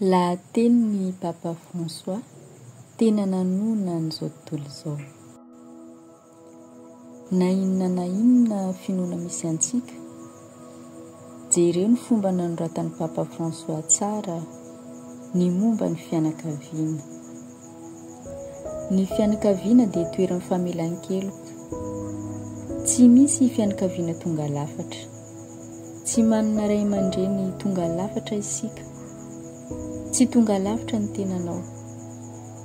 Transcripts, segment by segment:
Lahatenin'i Papa François tena nanohina an'izao tontolo izao. Na inona na inona finoana misy antsika, jereo ny fomba nanoratan'i Papa François tsara ny momba ny fianakaviana. Ny fianakaviana dia toeran'ny famelan-keloka. Tsy misy fianakaviana tonga lafatra. Tsy manana ray aman-dreny tonga lafatra isika. Tsy tonga lafatra ny tenanao.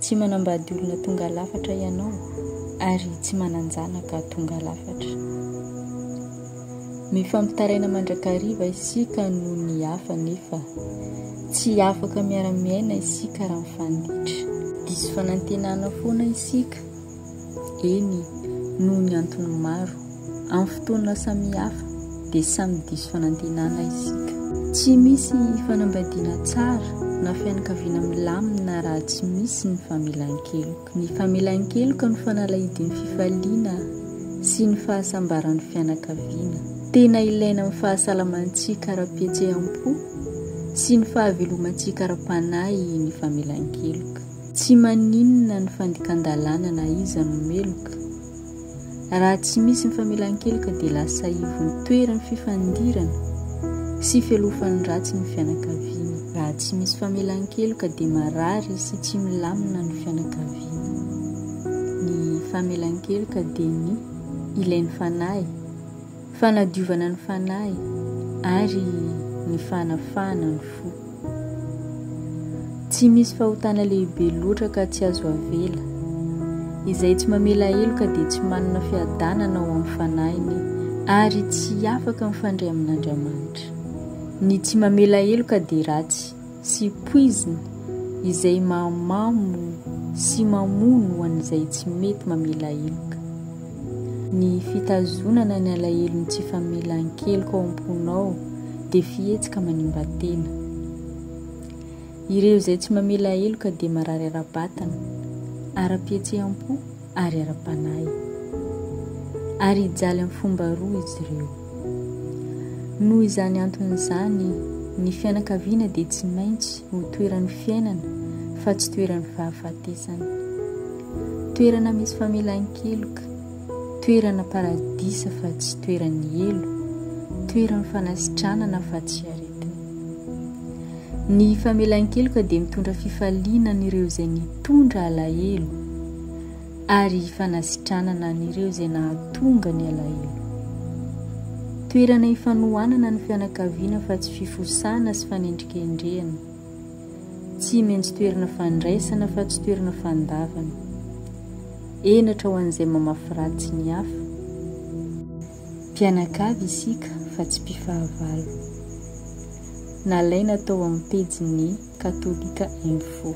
Tsy manambady olona tonga lafatra ianao ary tsy manan-janaka tonga lafatra. Mifampitaraina mandrakariva isika noho ny hafa nefa tsy afaka miara-miaina isika raha mifandiitra. Diso fanantenana foana isika, eny, noho ny antony maro. Amin'ny fotoana samihafa dia samy diso fanantenana isika. Tsy misy fanambadiana tsara na fianakaviana milamina raha tsy misy ny famelan-keloka. Ny famelan-keloka no fanalahidin'ny fifaliana sy ny fahasambaran'ny fianakaviana. Tena ilaina amin'ny fahasalamantsika ara-pihetseham-po sy ny fahavelomantsika ara-panahy ny famelan-keloka. Tsy maninona ny fandikan-dalàna na iza no meloka. Raha tsy misy ny famelan-keloka dia lasa ivon-toeran'ny fifandirana sy fialofan'ny ratsy ny fianakaviana. Raha tsy misy famelan-keloka dia marary sy tsy milamina ny fianakaviana. Ny famelan-keloka dia ny ilain'ny fanahy. Fanadiovana ny fanahy ary ny fanafahana ny fo. Tsy misy fahotana lehibe loatra ka tsy azo avela. Izay tsy mamela heloka dia tsy manana fiadanana ao amin'ny fanahiny ary tsy afaka mifandray amin'Andriamanitra. Ny tsy mamela heloka dia ratsy. sy poizina izay mahamamo sy mamono an'izay tsy mety mamela heloka. Ny fitazonana ny alahelon'ny tsy famelan-keloka ao am-ponao dia fihetsika manimba tena. Ireo izay tsy mamela heloka dia marary ara-batana, ara-pihetseham-po, ary ara-panahy, ary hijaly amin'ny fomba roa izy ireo. Noho izany antony izany, ny fianakaviana dia tsy maintsy ho toeran'ny fiainana fa tsy toeran'ny fahafatesana. Toerana misy famelan-keloka, toerana paradisa fa tsy toeran'ny helo, toeran'ny fanasitranana fa tsy aretina. Ny famelan-keloka dia mitondra fifaliana an'ireo izay nitondra alahelo ary fanasitranana an'ireo izay nahatonga ny alahelo. Toerana ifanohanana ny fianakaviana fa tsy fifosana sy fanendrikendrehana. Tsy maintsy toerana fandraisana fa tsy toerana fandavana. Henatra ho an'izay mamafy ratsy ny hafa. Mpianakavy isika fa tsy mpifahavalo. Nalaina tao amin'ny pejin'ny Katolika Info.